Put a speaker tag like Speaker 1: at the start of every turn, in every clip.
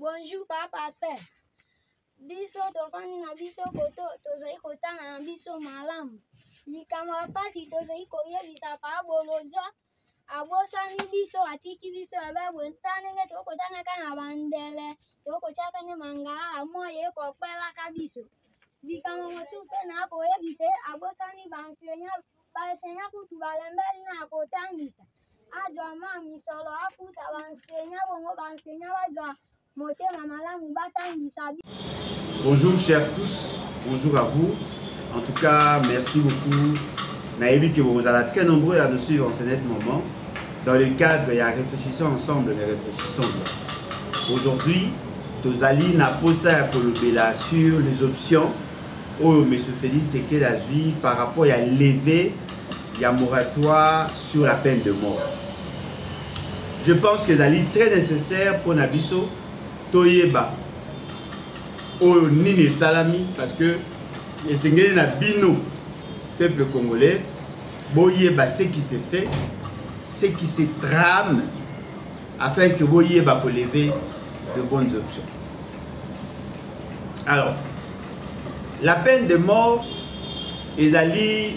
Speaker 1: Bonjour papa pasteur. Biso tofandi na biso koto tozali kotanga na biso malamu. Likambo ya mpasi tozali koyebisa papa Bolodjwa abosani biso atiki biso ya babwe nta ndenge tokotangaka na bandele tokotyaka nde mangala mwa ye kokwelaka biso. Likambo mosusu mpe na koyebisa ye abosani baenseignant kutu balembeli na kotangisa. azwa mwa misolo afuta bansenya bongo bansenya bazwa motema malamu batangisa bonjour
Speaker 2: chers tous bonjour à vous en tout cas merci beaucoup nayebi que bokozala très nombreux à nous suivre en ce net moment dans le cadre ya réfléchissons ensemble mais réfléchissons aujourd'hui tozali na posa ya kolobela sur les options oyo monsieur félix sekele azwi par rapport ya leve ya moratoire sur la peine de mort je pense que ezali très nécessaire mpo na biso toyeba oyo nini esalami parce que esengeli na bino peuple congolais boyeba ce qui se fait ce qui se trame afin que boyeba koleve de bonnes options alors la peine de mort ezali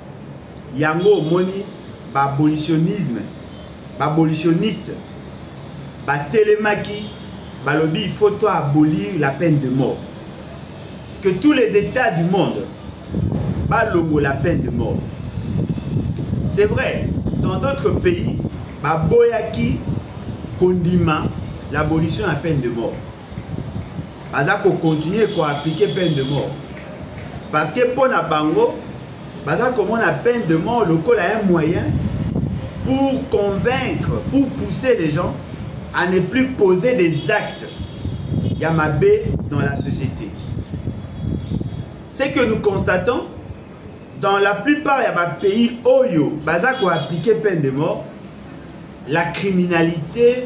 Speaker 2: Yango omoni b'abolitionisme, b'abolitioniste batelemaki balobi il faut to abolir la peine de mort. Que tous les etats du monde balongo la peine de mort. C'est vrai, dans d'autres pays, baboyaki kondima l'abolition ya peine de mort. aza ko continuer ko appliquer peine de mort parce que mpo na bango baza komona peine de mort lokola un moyen pour convaincre pour pousser les gens à ne plus poser des actes ya mabe dans la société ce que nous constatons dans la plupart ya bapays oyo baza koappliquer peine de mort la criminalité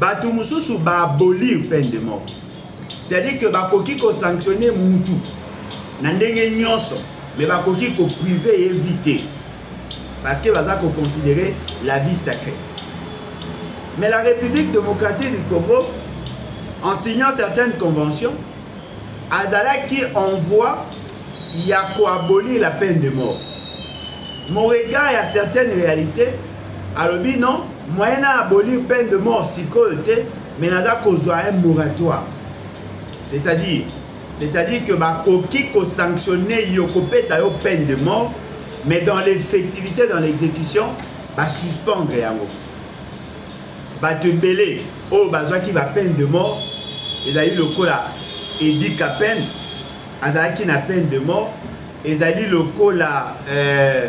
Speaker 2: bato mosusu ba abolir peine de mort c'est-à-dire que bakoki kosanctionne mutu na ndenge nyonso mais bakoki koprive ye vie te parce que baza koconsidere la vie sacrée mais la république démocratique du congo en signant certaines conventions azalaki en voie ya koabolir la peine de mort mon regard ya certaines réalités alobi non moyen na abolir peine de mort sikoyo te mais naza kozwa un moratoire c'est-à-dire c'est-à-dire que bakoki kosanctionne yo kopesa yo peine de mort mais dans l'effectivité dans l'exécution basuspendre yango bato ebele oyo bazwaki bapeine de mort ezali lokola edi capene azalaki na peine de mort ezali lokola euh,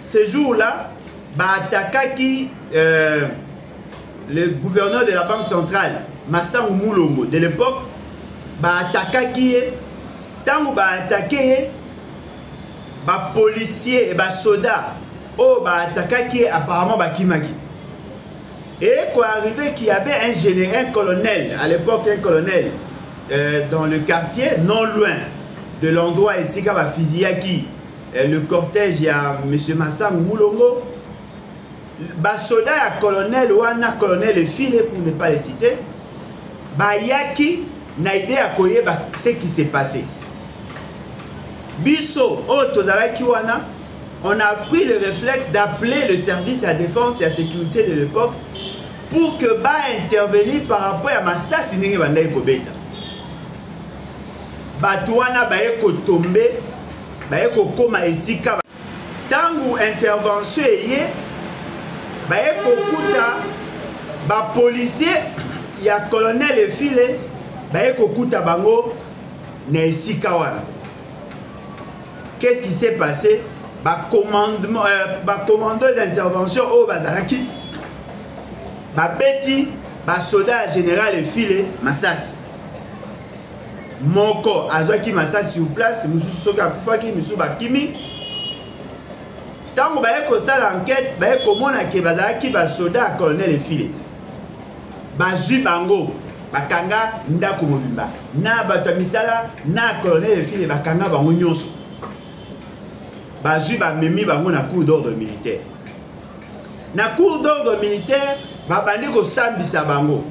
Speaker 2: ce jour là ba attaquaki euh, le gouverneur de la banque centrale masangu mulongo de l'époque ba attaquaki ye ntango ba attaque ye ba policier et ba soda oyo oh, ba attaquaki ye apparemment bakimaki Et quoi arrivé qu'il y avait un général, un colonel, à l'époque un colonel, euh, dans le quartier, non loin de l'endroit ici, qui va fusiller qui eh, le cortège ya monsieur Massam Mulongo basoda ya colonel wana colonel efile pour ne pas le citer bayaki na idée ya koyeba ce qui s'est passé biso oyo tozalaki wana on a pris le réflexe d'appeler le service ya défense ya sécurité de l'époque pour que baintervenir par rapport ya masasi ndenge bandaki kobeta bato wana baye kotombe baye kokoma esika ntango intervention eye baye kokuta bapolisier ya colonel efile baye kokuta bango na esika wana qu'est-ce qui s'est passé bacommandement euh, bacommando d'intervention oyo bazalaki babeti basoda ya général efile masasi moko azwaki masasi sur place mosusu soki akufaki misusu bakimi ntango baye kosala enquete baye komona ke bazalaki basoda ya colonel efile bazwi bango bakanga ndako mobimba na bato ya misala na colonel efile bakanga bango nyonso bazwi bamemi bango na cour d'ordre militaire na cour d'ordre militaire babandi kosambisa bango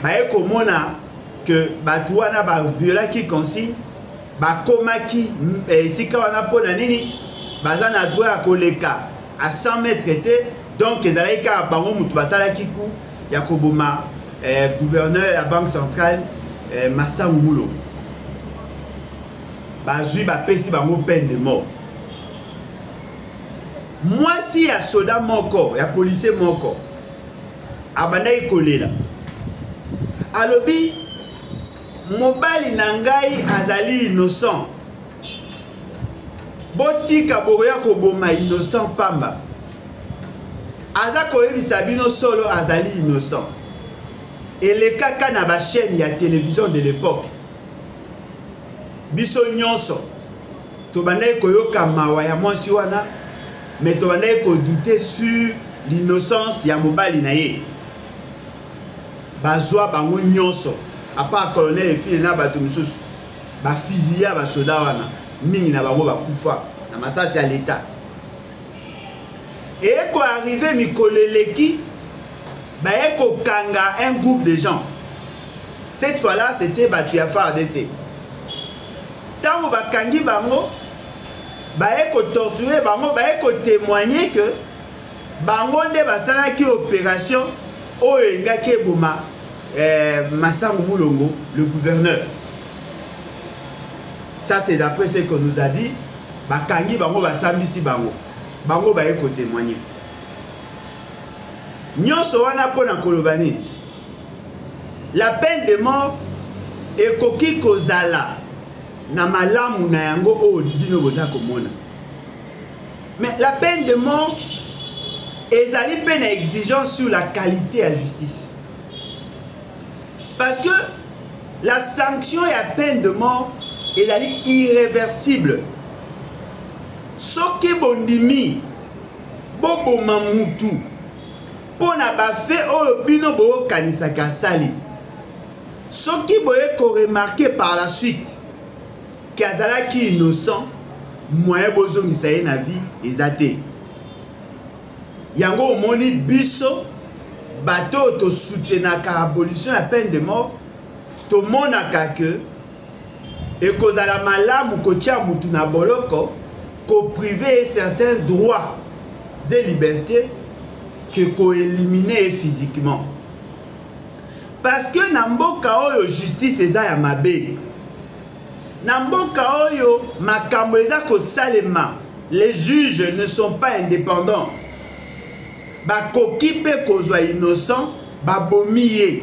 Speaker 2: baye komona ke bato wana baviolaki consigne bakomaki eh, esika wana mpo na nini baza na droit ya koleka a 100 mètre te donc ezalaki kaka bango moto basalaki ku ya koboma eh, gouverneur ya banque centrale eh, masangu mulo bazwi bapesi bango peine de mort mwasi ya soda moko ya policier moko abandaki kolela alobi mobali na ngai azali innocent botika bokoya koboma innocent pamba aza koyebisa bino solo azali innocent elekaka na bachaîne ya télévision de l'époque biso nyonso tobandaki koyoka mawa ya mwasi wana mais tobandaki kodute sur l'innocence ya mobali na ye bazwa bango nyonso apart colonel efine na bato mosusu bafiziya basoda wana mingi na bango bakufa na masasi ya leta eyeko arrive mikolo eleki baye kokanga un groupe de gens cette fois là c'était bato ya fardc Tango ba kangi bango baye ko torturer bango baye ko témoigner que bango nde basalaki opération oyo engaki eboma eh, Masango Mulongo le gouverneur ça c'est d'après ce que nous a dit bakangi bango basambisi bango bango baye kotémoigne nyonso wana mpo na koloba nini La peine de mort ekoki kozala na malamu na yango oyo bino boza komona. Mais la peine de mort ezali mpe na exigence sur la qualité ya justice. Parce que la sanction ya peine de mort ezali irréversible. Soki bondimi boboma mutu mpo na bafe oyo bino boyokanisaki asali soki boye koremarke par la suite ke azalaki innocent moyen bozongisa ye na vie eza te yango omoni biso bato oyo tosutenaka abolition ya peine de mort tomonaka ke ekozala malamu kotia mutu na boloko ko priver ye certains droits et liberté que ko eliminer ye physiquement parce que na mboka oyo justice eza ya mabe na mboka oyo makambo eza kosalema les juges ne sont pas indépendants bakoki mpe kozwa innocent babomi ye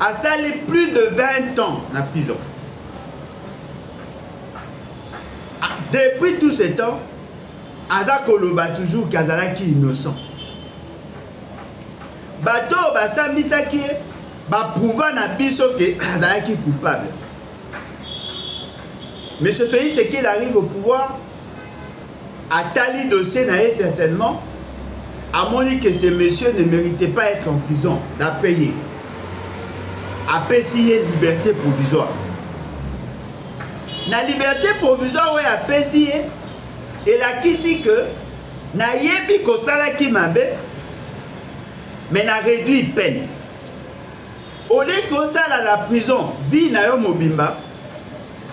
Speaker 2: asali plus de 20 ans na prison ah, depuis tout ce temps aza koloba toujours ke azalaki innocent bato oyo basambisaki ye baprouva na biso ke azalaki coupable monsieur félix ekel arrive au pouvoir Atali dossier na ye certainement amoni que ce monsieur ne mérite pas être en prison d'après ye apesi ye liberté provisoire na liberté provisoire oyo apesi ye elakisi que nayebi kosalaki mabe mais na réduit peine au lieu que osala la prison vie na yo mobimba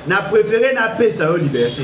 Speaker 2: na préféré napesa yo liberté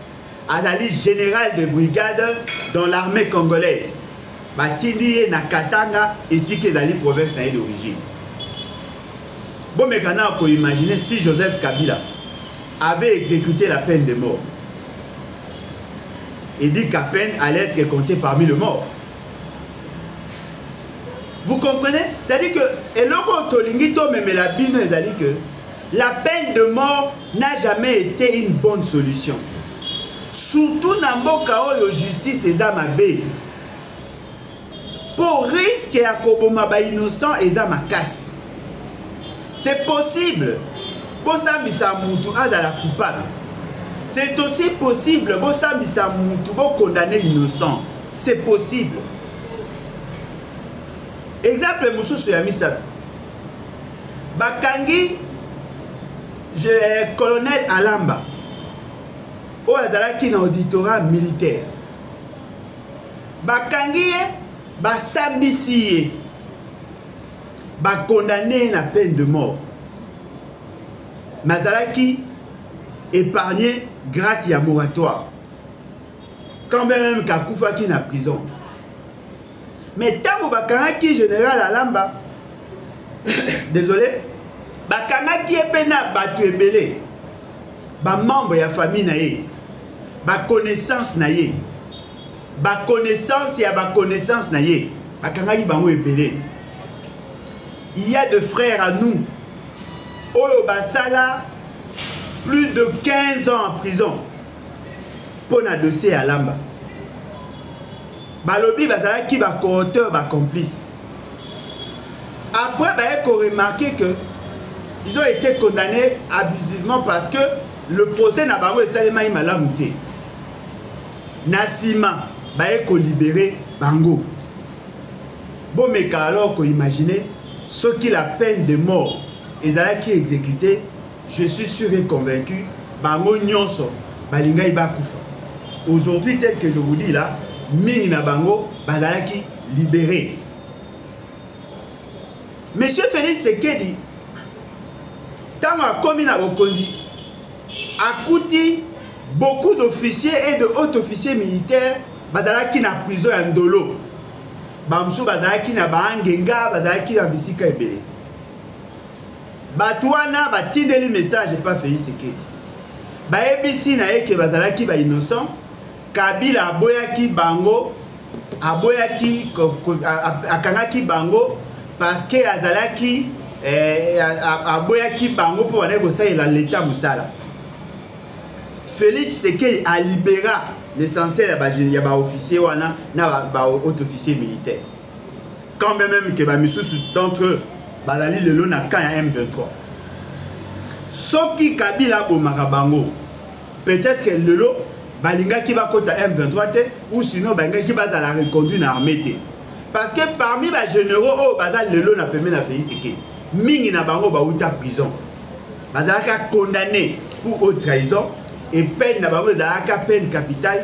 Speaker 2: azali général de brigade dans l'armée congolaise batindi ye na katanga esika ezali province na ye d'origine bomeka na koimagine si joseph kabila avait exécuté la peine de mort et dit qu'à peine allait être compté parmi le mort vous comprenez c'est à dire que eloko tolingi tomemela bino ezali que La peine de mort n'a jamais été une bonne solution. Surtout na mboka oyo justice eza mabe. Po risque ya koboma ba innocent eza makasi. C'est possible bosambisa mutu azala coupable. C'est aussi possible bosambisa mutu bo condamner innocent. C'est possible. Exemple mosusu ya misato bakangi je, eh, colonel alamba oyo azalaki na auditorat militaire bakangi ye basambisi ye bakondane ye na peine de mort nazalaki épargné grâce ya moratoire quand même kakufaki na prison mais ntango bakangaki général alamba désolé bakangaki ye mpe na bato ebele bamembre ya famille na ye baconnaissance na ye baconnaissance ya baconnaissance na ye bakangaki bango ebele il y a de frères à nous oyo basala plus de 15 ans en prison mpo na dossier ya lamba balobi bazalaki ba coauteur ba complice après baye ko remarquer que ils ont été condamnés abusivement parce que le procès na bango esalemaki malamu te na nsima baye kolibere bango bomeka alors koimagine soki la peine de mort ezalaki exécutée je suis sûr et convaincu bango nyonso balingaki bakufa aujourd'hui tel que je vous dis là mingi na bango bazalaki libéré monsieur félix sekedi ntango akomi na bokonzi akuti beaucoup d'officiers et de haut officiers militaires bazalaki na prison ya ndolo bamosusu bazalaki na baangenga bazalaki na bisika ebele bato wana batindeli message epa fei sekedi bayebisi na ye ke bazalaki ba innocent kabila aboyaki bango aboyaki akangaki bango parce que azalaki eh, aboyaki bango mpo bandaki kosalela leta mosala félix sekei alibera l'essentiel ya baofficier wana na bahaut officier militaire quand bien même ke bamisusu d'entre eux bazali lelo na camp ya m23 soki kabila abomaka bango peut-être lelo balingaki bakota m23 te ou sinon balingaki bazala reconduit na armée te parce que parmi bagénéraux oyo baza lelo na pembe na félix ekedi mingi na bango bauta prison bazalaka condamné pour haute trahison et peine na bango ezalaka peine capitale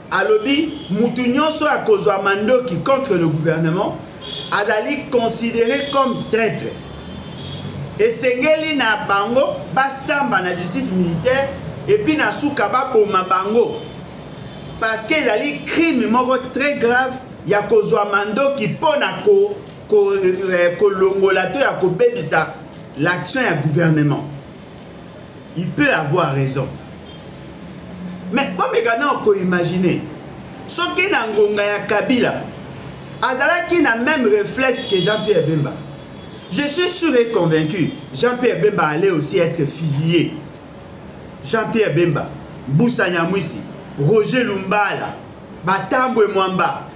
Speaker 2: alobi mutu nyonso oyo akozwa mandoki contre le gouvernement azali considéré comme traitre esengeli na bango basamba na justice militaire epuis na suka baboma bango parce que ezali crime moko très grave ya kozwa mandoki mpo na ko, ko, eh, kolongola to ya kobebisa l'action ya gouvernement il peut avoir raison mais bomeka nao koimagine soki na ngonga ya kabila azalaki na même réflexe que jean pierre bemba je suis sûr et convaincu jean pierre bemba allait aussi être fusillé jean pierre bemba mbusa nyamwisi roger lumbala batambwe mwamba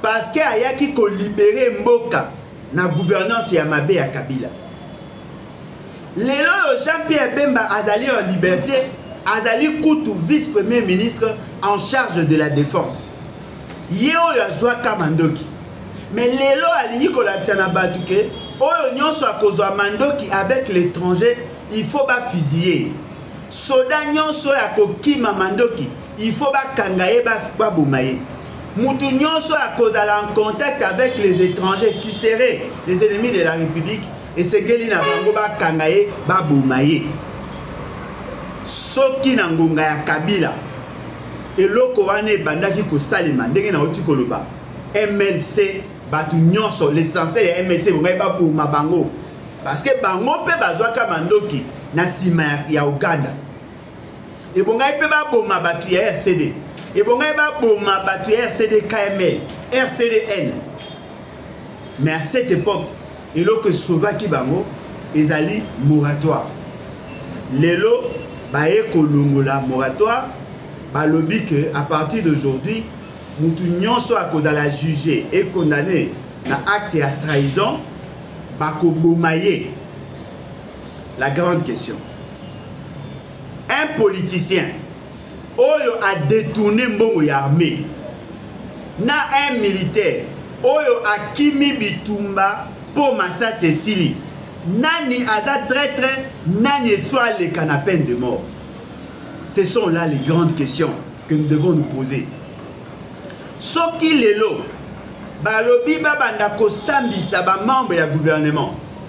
Speaker 2: Parce que ayaki ko libérer mboka na gouvernance ya mabe ya Kabila. Lelo oyo Jean-Pierre Bemba azali en liberté, azali kutu vice-premier ministre en charge de la défense. Ye oyo azwaka mandoki. Mais lelo alingi kolakisa na bato ke oyo nyonso akozwa mandoki avec l'étranger il faut bafusiller soda nyonso oyo akokima mandoki il faut bakanga ye baboma ye mutu nyonso ya kozala en contact avec les étrangers qui seraient les ennemis de la république esengeli na bango bakanga ye baboma ye soki na ngonga ya kabila eloko wana ebandaki kosalema ndenge nauti koloba mlc bato nyonso l'essentiel ya mlc ebongaki baboma bango parce que bango mpe bazwaka mandoki na nsima ya uganda ebongaki mpe baboma bato ya rcd ebongaki baboma bato ya rcd kml rcdn mais à cette époque eloko esauvaki bango ezali moratoire lelo baye kolongola moratoire balobi ke à partir d'aujourd'hui motu nyonso akozala juge e condamne na acte ya trahison bakoboma ye la grande question un politicien oyo a détourné mbongo ya armée na un militaire oyo akimi bitumba mpo masasi esili nani aza traitre nani eso aleka na peine de mort ce sont là les grandes questions que nous devons nous poser soki lelo balobi babanda kosambisa bamembre ya gouvernement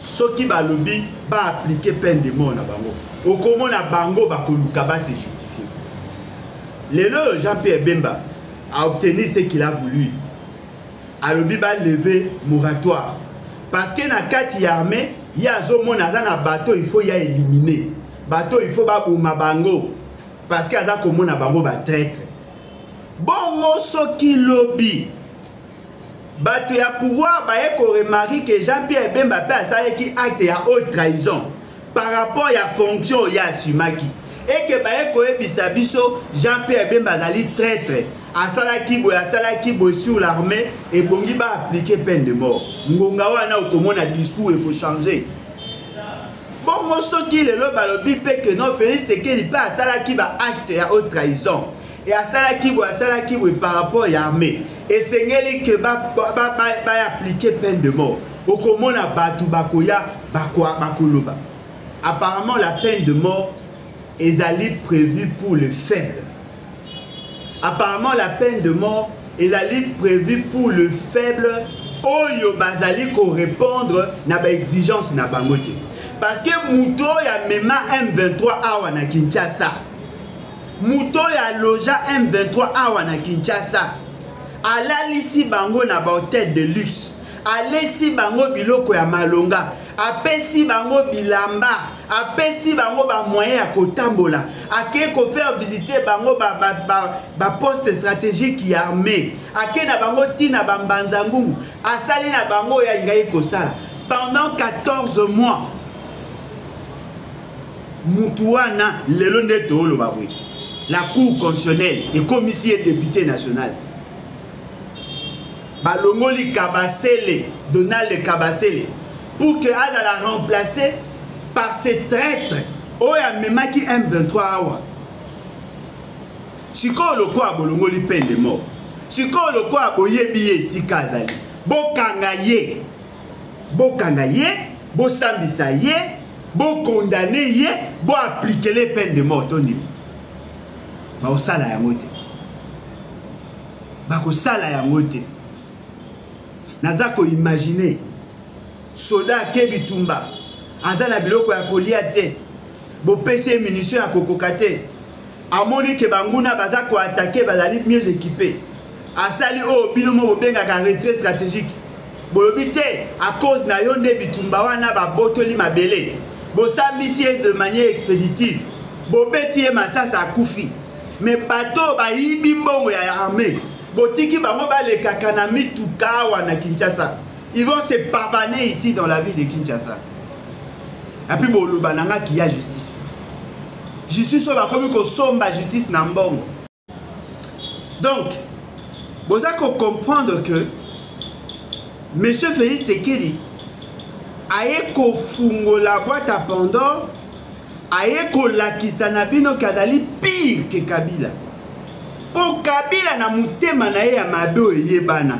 Speaker 2: soki balobi ba appliquer peine de mort na bango okomona bango bakoluka ba se justifier lelo oyo jean pierre bemba a obtenir ce qu'il a voulu alobi ba lever moratoire parce que na kati ya armée ye azomona aza na bato il faut ya éliminer bato il faut baboma bango parce que aza komona bango ba traitre bongo soki lobi bato ya pouvoir baye koremarke ke jean pierre bemba mpe asalaki acte ya haute trahison par rapport ya fonction oyo asimaki eke baye koyebisa biso jean pierre bemba azali traitre asalaki boye asalaki boye sur l'armée ebongi baaplike peine de mort ngonga wana okomona discours ekochange bongo soki lelo balobi mpe ke non félix sekeli mpe asalaki baacte ya haute trahison e asalaki boye asalaki boye par rapport ya armée esengeli ke baaplike peine de mort okomona bato bakoya bakoloba apparemment la peine de mort ezali prévue pour le faible apparemment la peine de mort ezali prévue pour le faible oyo bazali korépondre na baexigence na bango te parce que moto oyo amema m23 awa na kinshasa moto oyo aloja m23 awa na kinshasa alalisi bango na bahotel de luxe alesi bango biloko ya malonga apesi bango bilamba apesi bango bamoyen ya kotambola akei kofaire visite bango baposte ba, ba, ba stratégique ya armée akei na bango ntina bambanza ngungu asali na bango oyo alingaki kosala pendant 14 mois mutu wana lelo nde tooloba boye la cour constitutionnelle ekomisi ye depute national balongoli kabasele donald kabasele pour que azala remplacer par ce traitre oyo amemaki m23 awa sikoyo lokola bolongoli pende moko sikoyo lokola boyebi ye esika azali bokanga ye bokanga ye bosambisa ye bokondane ye boaplikele peine de mort to ndimi bakosala yango te bakosala yango te naza koimagine soda ake bitumba aza na biloko ya kolia te bopesi ye minisio ya kokoka te amoni ke banguna baza koatake bazali mieux équipe asali oyo oh, bino mo bobengaka retrait stratégique bolobi te a cause na yo nde bitumba wana babotoli mabele bosambisi ye de manière expéditive bobeti ye masasi akufi me bato oyo bayibi mbongo ya armée botiki bango balekaka na mituka awa na kinshasa ils vont se pavaner ici dans la ville de kinshasa epuis boloba na nga kiya justice justice oyo bakomi kosomba justice na mbongo donc boza kocomprendre que monsieur félix sekeli aye kofungola boite à pandore aye kolakisa na bino ke azali pire ke kabila mpo kabila na motema na ye ya mabe oyo eyebana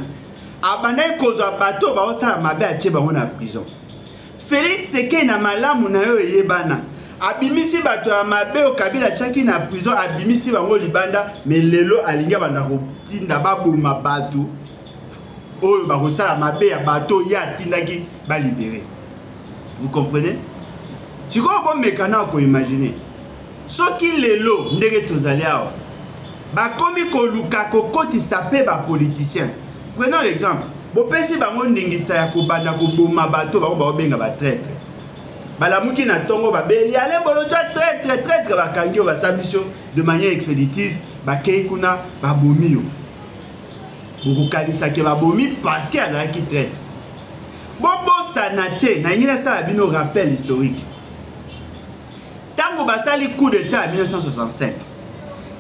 Speaker 2: abandaki kozwa bato oyo baosala mabe atie bango na prison Felix eke na malamu na yo eyebana abimisi bato ya mabe oyo kabila atyaki na prison abimisi bango libanda me lelo alingi abanda kotinda baboma bato oyo bakosala mabe ya bato oyo ye atindaki balibere vous comprenez sikoyo bomeka na koimagine Soki lelo ndenge tozali awa bakomi koluka kokotisa mpe ba politiciens, prenons l'exemple, bopesi bango ndingisa ya kobanda koboma bato bango baobenga ba traitre, balamuki na ntongo babeli Alain Bolodjwa traitre traitre, bakangi yo basambi yo de manière expéditive, bakei kuna babomi yo, bokokanisa ke babomi parce que azalaki traitre. Bobosana te, nalingi nasala bino rappel historique. Tango basali coup d'État en 1965,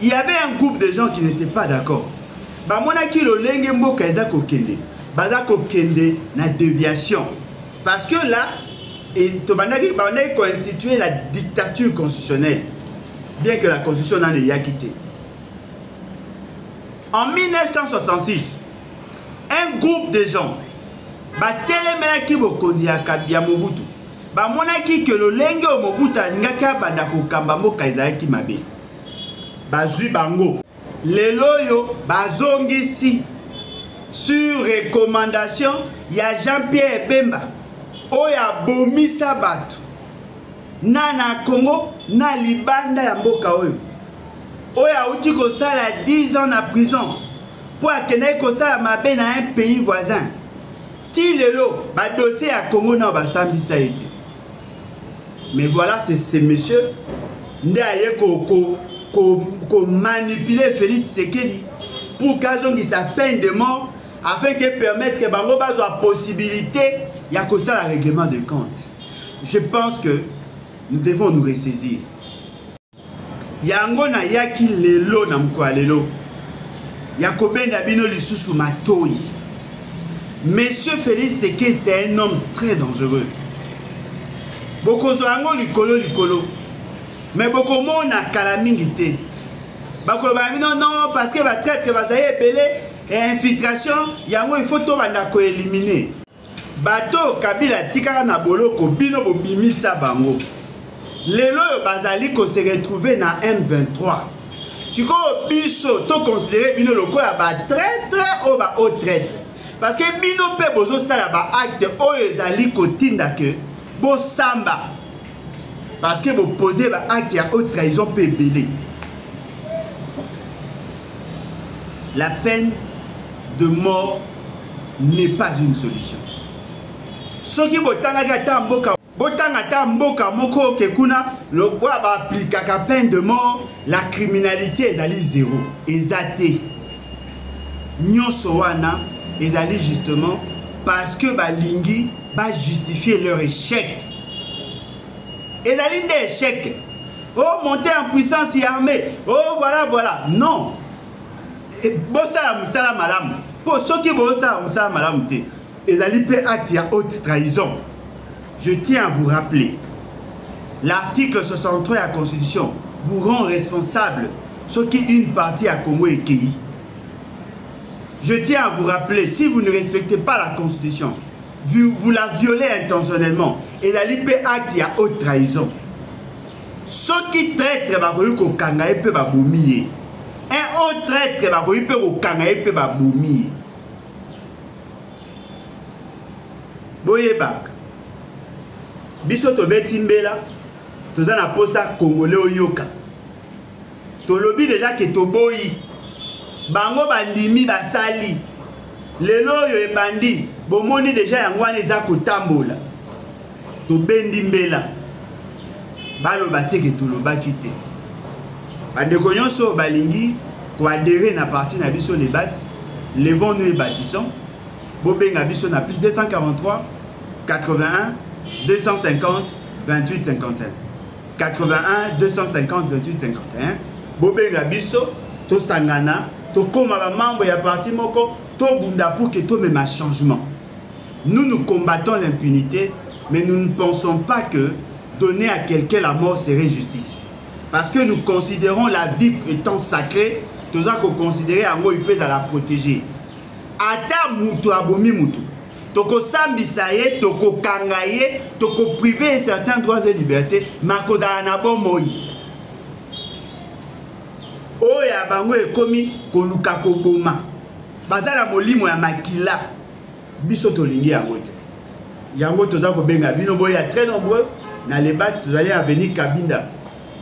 Speaker 2: il y avait un groupe de gens qui n'étaient pas d'accord. Bamonaki lolenge mboka eza kokende, baza kokende na déviation. Parce que là, tobandaki bandaki koinstituer la dictature constitutionnelle, bien que la constitution nano eyaki te. En 1966, un groupe de gens batelemelaki bokonzi ya, ya mobutu bamonaki ke lolenge oyo mobutu alingaki abanda kokamba mboka ezalaki mabe bazwi bango lelo oyo bazongisi sur recommandation ya jean pierre bemba oyo abomisa bato na na congo na libanda ya mboka oyo oyo awuti kosala 10 ans na prison mpo akendaki kosala mabe na un pays voisin ti lelo badossier ya congo nao basambisa ye te mais voilà ce monsieur nde aye komanipule ko, ko félix sekedi pour kazongisa peine de mort afin ke permettre bango bazwa possibilité ya kosala règlement de compte je pense que nous devons nous ressaisir yango nayaki lelo na mokolo ya lelo ya kobenda bino lisusu matoi monsieur félix seke c'est un homme très dangereux bokozwa yango likolo likolo me bokomona kala mingi te bakolobaka bino non parce que batraitre bazali ebele infiltration yango il faut tobanda koelimine Bato oyo Kabila atikaka na boloko bino bobimisa bango. Lelo oyo bazali ko se retrouver na M23. Sikoyo biso to considérer bino lokola ba traitre oyo ba haut traitre. Parce que bino mpe bozosala ba acte oyo ezali kotinda que bosamba. Parce que bopoze ba acte ya haute trahison mpe ebele. La peine de mort n'est pas une solution soki botangaki ata mboka botanga ata mboka moko oke kuna lokola baaplikaka peine de mort la criminalité ezali zero eza te nyonso wana ezali justement parce que balingi bajustifie leur échec ezali nde échec oh monter en puissance ya armée oh voilà voilà non eh, bosala mosala malamu mpo soki bosala mosala malamu te ezali mpe acte ya haute trahison je tiens à vous rappeler l'article 63 ya constitution vous rend responsable soki une partie ya congo ekei je tiens à vous rappeler si vous ne respectez pas la constitution vous, vous la violez intentionnellement ezali mpe acte ya haute trahison soki traitre bakoki kokanga ye mpe babomi ye un autre traitre bakoki mpe kokanga ye mpe babomi ye boyebaka biso tobeti mbela toza na mposa congolais oyoka tolobi deja ke toboyi bango bandimi basali lelo oyo ebandi bomoni deja yango wana eza kotambola tobendi mbela baloba te ke tolobaki te bandeko nyonso oyo balingi koadere na parti na biso lebate levons nous et bâtissons bobenga biso na plus 243 81 250 28 51 81 250 28 51 bobenga biso tosangana tokoma bamembre ya parti moko tobunda pour ke tomema changement nous nous combattons l'impunité mais nous ne pensons pas que donner à quelqu'un la mort serait justice parce que nous considérons la vie étant sacrée toza koconsidere yango il faut ezala protégé ata moto abomi moto tokosambisa ye tokokanga ye tokoprive ye certain droits et liberté makozala na bomoi oyo ya bango ekomi koluka koboma baza na molimo ya makila biso tolingi yango te yango toza kobenga bino boya très nombreux na lebak tozali avenue kabinda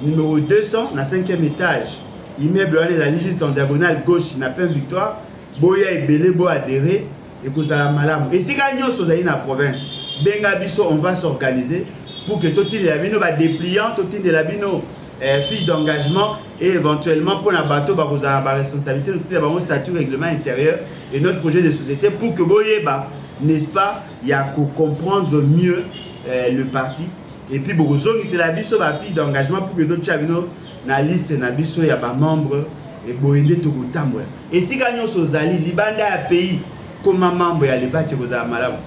Speaker 2: numero 200 na 5e étage immeuble wana ezali juste en diagonale gauche na plein victoire boya ebele boadere ekozala malamu esika nyonso ozali na province benga biso on va s'organiser pour que totindela bino badepliant totindela bino eh, fiche d'engagement et éventuellement mpo na bato bakozala na baresponsabilité totinda bango statut règlement intérieur et notre projet de société pour que boyeba n'est-ce pas ya kocomprendre mieux eh, le parti et puis bokozongisela biso bafiche d'engagement pour que totya bino na liste na biso ya ba membres eboye nde tokotambola esika nyonso ozali libanda ya pays koma membre ya lebati ekozala malamu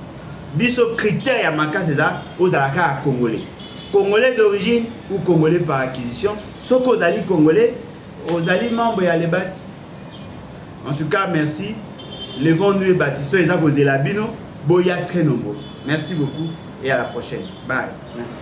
Speaker 2: biso critère ya makasi eza ozala kaka congolais congolais d'origine ou congolais par acquisition soki ozali congolais ozali membre ya lebati en tout cas merci levons nous et bâtissons eza kozela bino boya très nombreux merci beaucoup et à la prochaine bye merci